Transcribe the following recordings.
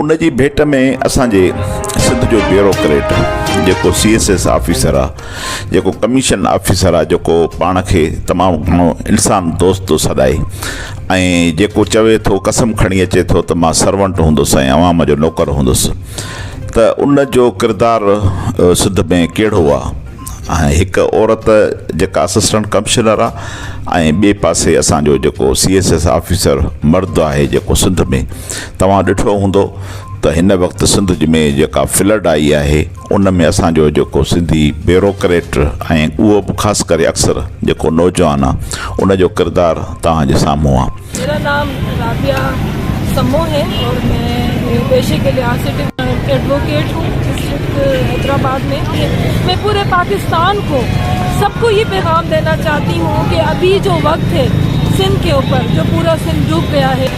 ان جي ڀيٽ ۾ اسان جي سنڌ جو بيوروڪريٽ جيڪو سي ايس ايس آفيسر آ جيڪو ڪميشن آفيسر آ جيڪو پاڻ کي تمام گهڻو انسان دوست ٿو سڏائي ۽ جيڪو چوي ٿو قسم کڻي اچي ٿو ته مان سرونٽ هوندس ۽ عوام جو نوڪر هوندس ته ان جو ڪردار سنڌ ۾ ڪهڙو آ ۽ هڪ عورت جيڪا اسسٽنٽ ڪمشنر آ ۽ ٻي پاسي اسان جو جيڪو سي ايس ايس آفيسر مرد آهي جيڪو سنڌ ۾ توهان ڏٺو هوندو ته هن وقت سنڌ ۾ جيڪا فلڊ آئي آهي ان ۾ اسان جو جيڪو سنڌي بيوروڪريٽ ۽ اهو به خاص ڪري اڪثر جيڪو نوجوان آ ان جو ڪردار توهان جي سامهون آ. ميرا نام رابعه سمو هي اور مين پيشي ڪي لحاظ سي ايڊووڪيٽ هون ڊسٽرڪٽ حيدرآباد مين مين پوري پاڪستان ڪو سب ڪو هي پيغام دينا چاهتي هون ڪي ابهي جو وقت هي سنڌ ڪي اوپر جو پورا سنڌ ڊوب گيا هي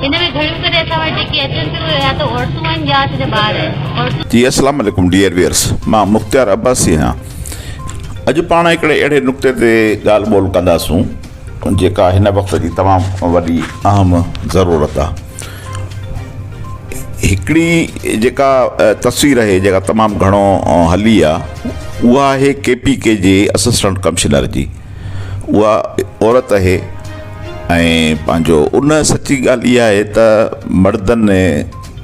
هن ۾ گهڻيون ڪري اسان وٽ جيڪي اچن ٿيون اهي يا ته عورتون آهن يا اسان جا ٻار آهن عورتون. جي اسلام عليڪم ڊيئر ويئرس مان مختيار عباسي آهيان اڄ پاڻ هڪڙي اهڙي نقطي تي ڳالهه ٻولهه ڪنداسون جيڪا هن وقت جي تمام وڏي اهم ضرورت آ هڪڙي جيڪا تصوير آهي جيڪا تمام گهڻو هلي آ اها آهي ڪي پي ڪي جي اسسٽنٽ ڪمشنر جي اها عورت اهي ۽ پنهنجو ان سچي ڳالهه اها آهي ته مردن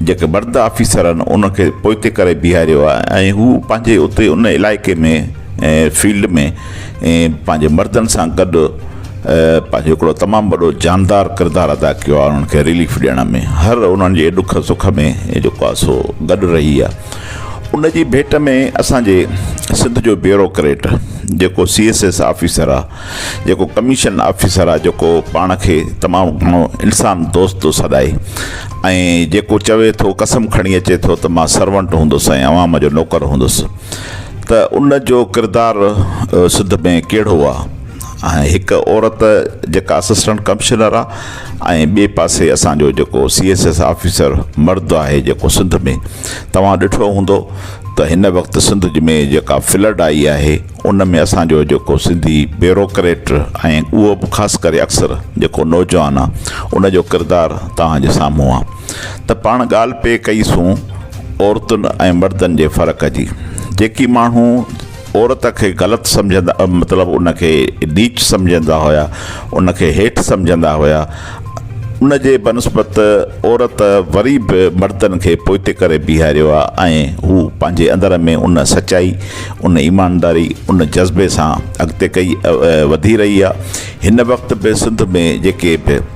جيڪي مرد آفيسر آهن ان کي پوئتي ڪري بيهاريو آهي ۽ هو پنهنجي اتي ان علائقي ۾ ۽ فيلڊ ۾ ۽ پنهنجي مردن سان گڏ پنهنجو هڪڙو تمام وڏو جاندار ڪردار ادا ڪيو آهي انهن کي رليف ڏيڻ ۾ هر انهن جي ڏک سک ۾ جيڪو آهي سو گڏ رهي آهي ان جي ڀيٽ ۾ اسان جي سنڌ جو بيوروڪريٽ جيڪو سي ايس ايس آفيسر آ جيڪو ڪميشن آفيسر آ جيڪو پاڻ کي تمام گهڻو انسان دوست ٿو سڏائي ۽ جيڪو چوي ٿو قسم کڻي اچي ٿو ته مان سرونٽ هوندس ۽ عوام جو نوڪر هوندس ته ان جو ڪردار سنڌ ۾ ڪهڙو آ ۽ هڪ عورت جيڪا اسسٽنٽ ڪمشنر آ ۽ ٻئي پاسي اسان جو جيڪو سي ايس ايس آفيسر مرد آهي جيڪو سنڌ ۾ توهان ڏٺو هوندو ته هن وقت سنڌ ۾ جيڪا فلڊ آئي آهي ان ۾ اسان جو جيڪو سنڌي بيوروڪريٽ ۽ اهو به خاص ڪري اڪثر جيڪو نوجوان آ ان جو ڪردار توهان جي سامهون آ ته پاڻ ڳالهه پئي ڪئي سون عورتن ۽ مردن جي فرق جي جيڪي ماڻهو عورت کي غلط سمجهندا مطلب ان کي نيچ سمجهندا هيا ان کي هيٺ سمجهندا هيا ان جي بنسبت عورت وري به مردن کي پوئتي ڪري بيهاريو آ ۽ هو پنهنجي اندر ۾ ان سچائي ان ايمانداري ان جذبي سان اڳتي ڪئي وڌي رهي آ هن وقت به سنڌ ۾ جيڪي به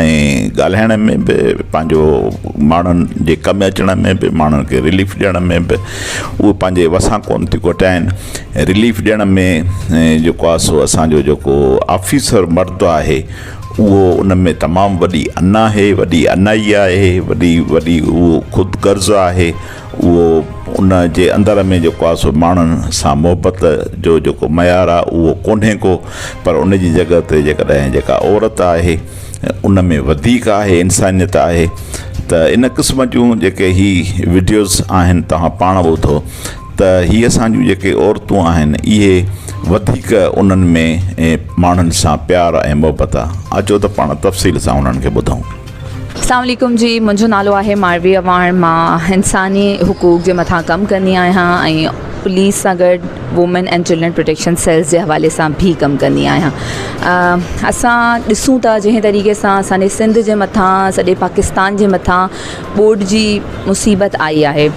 ۽ ڳالهائڻ ۾ به پنهنجو ماڻهن جي ڪم اچڻ ۾ به ماڻهن کي رليف ڏيڻ ۾ به اهو پنهنجي وسان ڪونه ٿي کوٽائين رليف ڏيڻ ۾ جيڪو آ سو اسانجو جيڪو آفيسر مرد آهي اهو ان ۾ تمام وڏي انا آهي وڏي انائي آهي وڏي وڏي اهو خود غرض آهي اهو ان جي اندر ۾ جيڪو آهي سو ماڻهن سان محبت جو جيڪو معيار آهي اهو ڪونهي ڪو پر ان جي جڳهه تي جيڪڏهن جيڪا عورت آهي ان ۾ وڌيڪ آهي انسانيت آهي ته ان قسم جون جيڪي هي وڊيوز آهن توهان پاڻ ٻڌو ته هي اسان جون جيڪي عورتون آهن اهي وڌيڪ انهن ۾ ماڻهن سان پيار ۽ محبت آهي اچو ته پاڻ تفصيل سان انهن کي ٻڌون اسلام عليڪم جي منهنجو نالو آهي ماروي اواڻ مان انساني حقوق جي مٿان ڪم ڪندي آهيان ۽ پوليس سان گڏ women and children protection cells جي حوالي سان بي ڪم ڪندي آهيان اسان ڏسون ٿا جنهن طريقي سان اسانجي سنڌ جي مٿان سڄي پاڪستان جي مٿان ٻوڏ جي مصيبت آئي آهي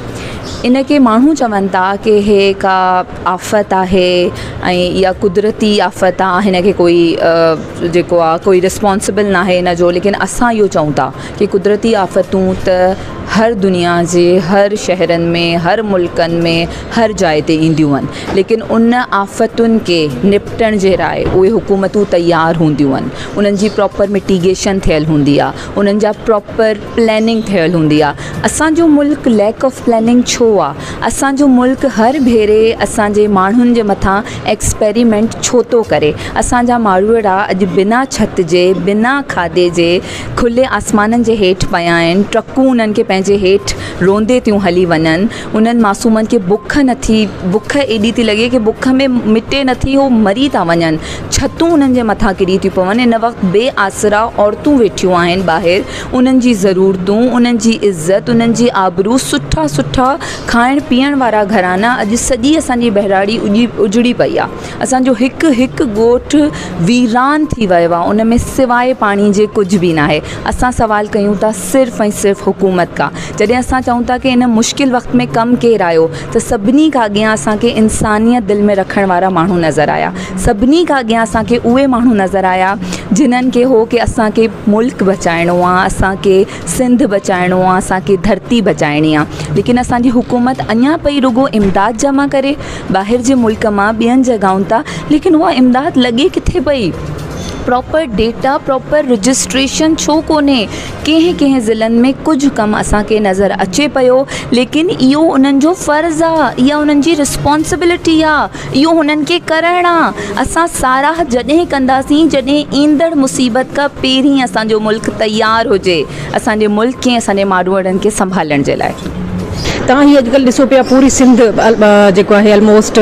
ان کي ماڻهو چون ٿا ڪي هي ڪا آفت آهي ۽ يا قدرتي آفت آ هن کي ڪوئي جيڪو آ ڪوئي رسپانسبل نا آهي هن جو ليڪن اسان اهو چئون ٿا ڪي قدرتي آفتون ته هر دنيا جي هر شهرن ۾ هر ملڪن ۾ هر جاء تي اينديون آهن ليڪن ان آفتن کي نپٽڻ جي لاء اهي حڪومتون تيار هونديون آهن انهن جي پراپر مٽيگيشن ٿيل هوندي آ انهن جا پراپر پلاننگ ٺهيل هوندي آ اسان جو ملڪ ليڪ آف پلاننگ ڇو آ اسان جو ملڪ هر ڀيري اسان جي ماڻهن جي مٿان ايڪسپريمينٽ ڇو ٿو ڪري اسان جا ماڙوئڙا اڄ بنا ڇت جي بنا کاڌي جي کلي آسمانن جي هيٺ پيا آهن ٽرڪون انهن کي پنهنجي هيٺ روندي ٿيون هلي وڃن انهن معصومن کي بک نٿي بک ايڏي ٿي لڳي ڪي بک ۾ مٽي نٿي هو مري ٿا وڃن ڇتون انهن جي مٿان ڪري ٿيون پون ان وقت بي آسرا عورتون ويٺيون آهن ٻاهر انهن جي ضرورتون، انهن جي عزت، انهن جي آبرو، سٺا سٺا کائڻ پيئڻ وارا گهرانا، اڄ سڄي اسان جي ٻهراڙي اجڙي پئي آ. اسان جو هڪ هڪ ڳوٺ ويران ٿي ويو آ. ان ۾ سواء پاڻي جي ڪجهه به ناهي. اسان سوال ڪيون ٿا صرف ۽ صرف حڪومت کان. جڏهن اسان چئون ٿا ڪي ان مشڪل وقت ۾ ڪم ڪير آيو؟ ته سڀني کان اڳيان اسان کي انسانيت دل ۾ رکڻ وارا ماڻهو نظر آيا سڀني کان اڳيان اسان کي اهي ماڻهو نظر آيا جنن کي هو ڪي اسان کي ملڪ بچائڻو آ اسان کي سنڌ بچائڻو آ اسان کي ڌرتي بچائڻي آ ليڪن اسانجي حڪومت اڃان پئي رڳو امداد جمع ڪري ٻاهر جي ملڪ مان ٻين جڳهائن تان ليڪن اها امداد لڳي ڪٿي پئي پراپر ڊيٽا پراپر رجسٽريشن ڇو ڪونهي ڪنهن ڪنهن ضلعن ۾ ڪجهه ڪم اسان کي نظر اچي پيو ليڪن اهو انهن جو فرض آ اها انهن جي رسپانسبلٽي آ اهو هنن کي ڪرڻ آ اسان ساراهه جڏهن ڪنداسين جڏهن ايندڙ مصيبت کان پهرين اسان جو ملڪ تيار هجي اسان جي ملڪ کي ۽ اسان جي ماڙوئڙن کي سنڀالڻ جي لاء. تان هي اڄڪلهه ڏسو پيا پوري سنڌ جيڪو آهي الموسٽ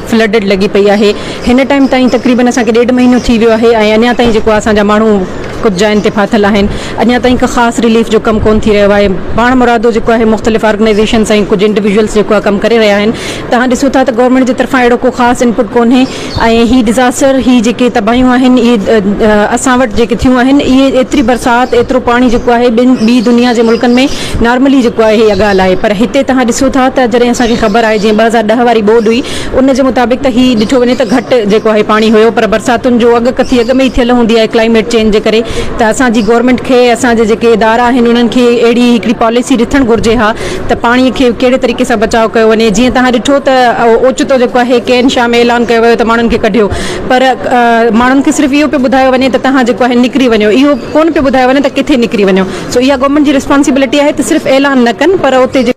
فلڊڊ لڳي پئي آهي هن ٽائيم تائين تقريبن اسان کي ڏيڍ مهينو ٿي ويو آهي ۽ اڃا تائين جيڪو آ اسان جا ماڻهو ڪجهه جاين تي ڦاٿل آهن اڃا تائين ڪا خاص رليف جو ڪم ڪون ٿي رهيو آهي پاڻمرادو جيڪو آهي مختلف آرگنائيزيشنس ۽ ڪجهه انڊيويجولس جيڪو آهي ڪم ڪري رهيا آهن توهان ڏسو ٿا ته گورنمينٽ جي طرفان اهڙو ڪو خاص انپٽ ڪونهي ۽ هي ڊزاسٽر هي جيڪي تباهيون آهن اهي اسان وٽ جيڪي ٿيون آهن اهي ايتري برسات ايترو پاڻي جيڪو آهي ٻن ٻي دنيا جي ملڪن ۾ نارملي جيڪو آهي اها ڳالهه آهي پر هتي توهان ڏسو ٿا ته جڏهن اسان کي خبر آهي جيئن ٻه هزار ڏهه واري ٻوڏ هئي ان جي مطابق ته هي ڏٺو وڃي ته گهٽ جيڪو آهي پاڻي هيو پر برساتن جو اڳ ڪٿي اڳ ۾ ئي ٿيل هوندي آهي ڪلائميٽ چينج جي ڪري ته اسان جي گورنمينٽ کي اسان جي جيڪي ادارا آهن انهن کي اهڙي هڪڙي پاليسي رٿڻ گهرجي ها ته پاڻي کي ڪهڙي طريقي سان بچاء ڪيو وڃي جيئن توهان ڏٺو ته اوچتو جيڪو آهي ڪين شاهه ۾ اعلان ڪيو ويو ته ماڻهن کي ڪڍيو پر ماڻهن کي صرف اهو پيو ٻڌايو وڃي ته توهان جيڪو آهي نڪري وڃو اهو ڪون پيو ٻڌايو وڃي ته ڪٿي نڪري وڃو سو اها گورنمينٽ جي رسپانسبلٽي آهي ته صرف اعلان نه ڪن پر اتي جي